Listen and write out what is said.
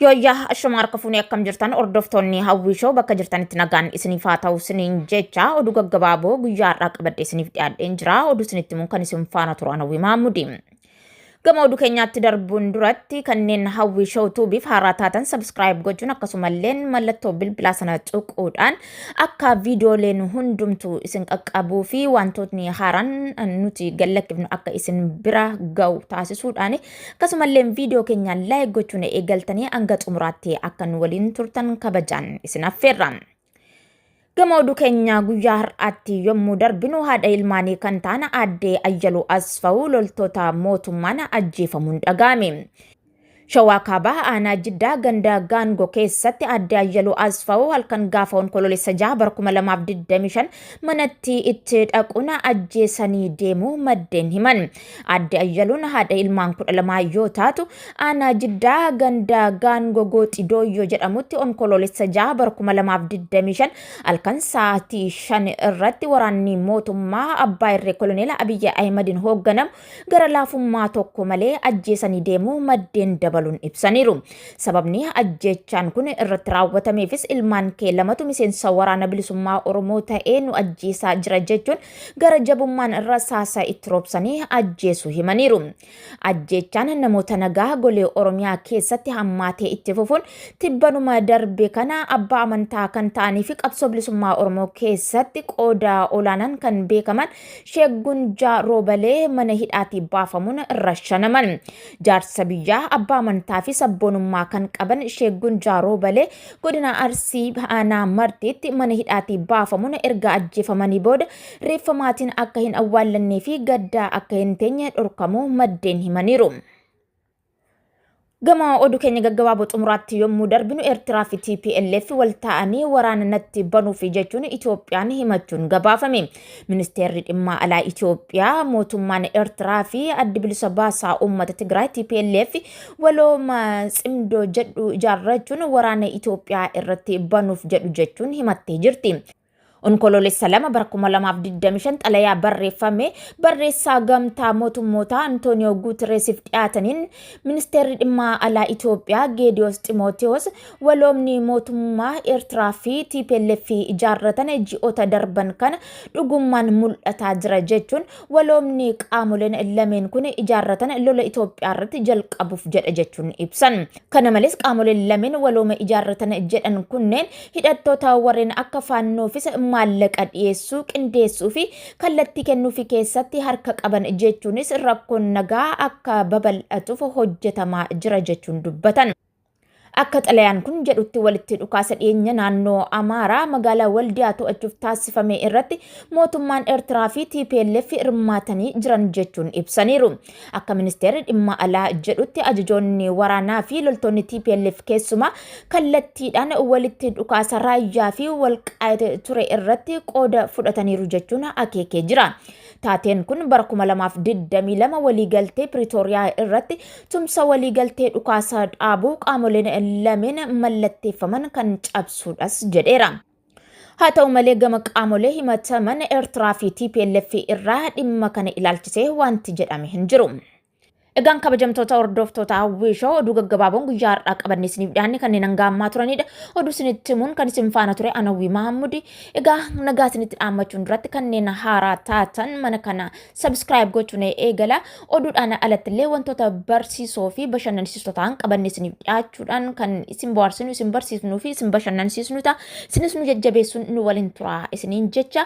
Yooyyaa ashuma harka fuunee akkam jirtan hordoftoonni hawwii shoo bakka jirtanitti nagaan isiniif haa ta'u isiniin jecha oduu gaggabaaboo guyyaa har'aa qabadhee isiniif dhiyaadheen jira oduu isinitti himuun kan isin faana turan hawwii maamudi. Gama oduu keenyaatti darbuun duratti kanneen hawwii shoo tuubiif haaraa taatan sabskiraayib gochuun akkasumallee mallattoo bilbilaa sana tuquudhaan akka viidiyooleen hundumtu isin qaqqabuu fi wantootni haaraan nuti gallakkifnu akka isin bira ga'u taasisuudhaan Akkasumalleen viidiyoo keenya laayik gochuun eegaltanii hanga xumuraatti akka nu waliin turtan kabajaan isin affeerra. Gama oduu keenya guyyaa har'aatti yommuu darbinu haadha ilmaanii kan ta'an aadde Ayyaluu Asfawu loltoota mootummaan ajjeefamuun dhaga'ame. Shawaa Kaabaa aanaa Jiddaa ganda Gaangoo keessatti aadde Ayyaluu Asfawu halkan gaafa onkoloolessa jaha bara 2025 manatti itti dhaquun ajjeesanii deemuu maddeen himan. Aadde Ayyaluun haadha ilmaan kudha lamaa yoo taatu aanaa jiddaa ganda gaangoo gooxi dooyyoo jedhamutti onkoloolessa jaha bara 2025 halkan sa'aatii 5 irratti waraanni mootummaa abbaa irree koloneela Abiyyi Ahimadiin hoogganamu gara laafummaa tokko malee ajjeesanii deemuu maddeen dabaluun ibsaniiru. Sababni ajjeechaan kun irratti raawwatameefis ilmaan kee lamatu miseensa waraana bilisummaa Oromoo ta'ee nu ajjeesaa jira jechuun gara jabummaan rasaasaa itti roobsanii ajjeesu himaniiru. Ajjeechaan namoota nagaa golee Oromiyaa keessatti hammaatee itti fufuun tibbanuma darbe kana abbaa amantaa kan ta'anii fi qabsoo bilisummaa Oromoo keessatti qooda olaanaan kan beekaman Sheek Gunjaa Roobalee mana hidhaatii baafamuun rashanaman. Jaarsa biyyaa abbaa amantaa fi sabboonummaa kan qaban Sheek Gunjaa Roobalee Godina Arsii aanaa Martiitti mana hidhaatii baafamuun erga ajjeefamanii booda reeffa maatiin akka hin awwaallannee fi gaddaa akka hin teenye dhorkamuu maddeen himaniiru. Gama oduu keenya gaggabaaboo xumuraatti yommuu darbinu Eertiraa fi TPLF wal ta'anii waraana natti banuufi jechuun Itoophiyaan himachuun gabaafame. Ministeerri dhimmaa alaa Itoophiyaa mootummaan Eertiraa fi addi bilisa baasaa uummata Tigraay TPLF walooma cimdoo jedhu ijaarrachuun waraana Itoophiyaa irratti banuuf jedhu jechuun himattee jirti. Onkoloolessa lama bara 2025 xalayaa barreeffame barreessaa gamtaa mootummootaa Antooniyoo Guutereesiif dhiyaataniin ministeerri dhimmaa alaa Itoophiyaa Geediyoos Ximootiyoos Waloomni mootummaa Eertiraa fi TPLF ijaarratan ji'oota darban kana dhugummaan mul'ataa jira jechuun waloomni qaamoleen lameen kun ijaarratan lola Itoophiyaa irratti jalqabuuf jedha jechuun ibsan. Kana malees qaamoleen lameen walooma ijaarratan jedhan kunneen hidhattoota warreen akka faannoofis maallaqa dhiyeessuu, qindeessuu fi kallattii kennuufi keessatti harka qaban jechuunis rakkoon nagaa akka babal'atuuf hojjetamaa jira jechuun dubbatan. Akka xalayaan kun jedhutti walitti dhukaasa dhiyeenya naannoo Amaaraa magaalaa Waldiyaa to'achuuf taasifame irratti mootummaan Eertiraa fi TPLF hirmaatanii jiran jechuun ibsaniiru. Akka ministeerri dhimma alaa jedhutti ajajoonni waraanaa fi loltoonni TPLF keessumaa kallattiidhaan walitti dhukaasa raayyaa fi walqaayite ture irratti qooda fudhataniiru jechuun akeekee jira. Taateen kun bara 2022 waliigaltee Piriitooriyaa irratti tumsa waliigaltee dhukaasaa dhaabuu qaamoleen lameen mallatteeffaman kan cabsuudhas jedheera. Haa ta'u malee gama qaamolee himataman Eertiraa fi TPLF irraa dhimma kana ilaalchisee wanti jedhame hin jiru. Egaan kabajamtoota hordoftoota hawwii shoo oduu gaggabaaboon guyyaa har'aa qabanne isiniif dhiyaanne kanneen hangaa ammaa turanidha. Oduu isinitti himuun kan isin faana ture Anawwii Mahammudi. Egaa nagaa isinitti dhaammachuun duratti kanneen haaraa taatan mana kana sabiskiraayib gochuun eegala. Oduudhaan alatti illee wantoota barsiisoo fi bashannansiisoo ta'an qabanne isiniif dhiyaachuudhaan kan isin bohaarsinu, isin barsiisnuu fi isin bashannansiisnu ta'a. Isinis nu jajjabeessuun nu waliin tura isiniin jecha.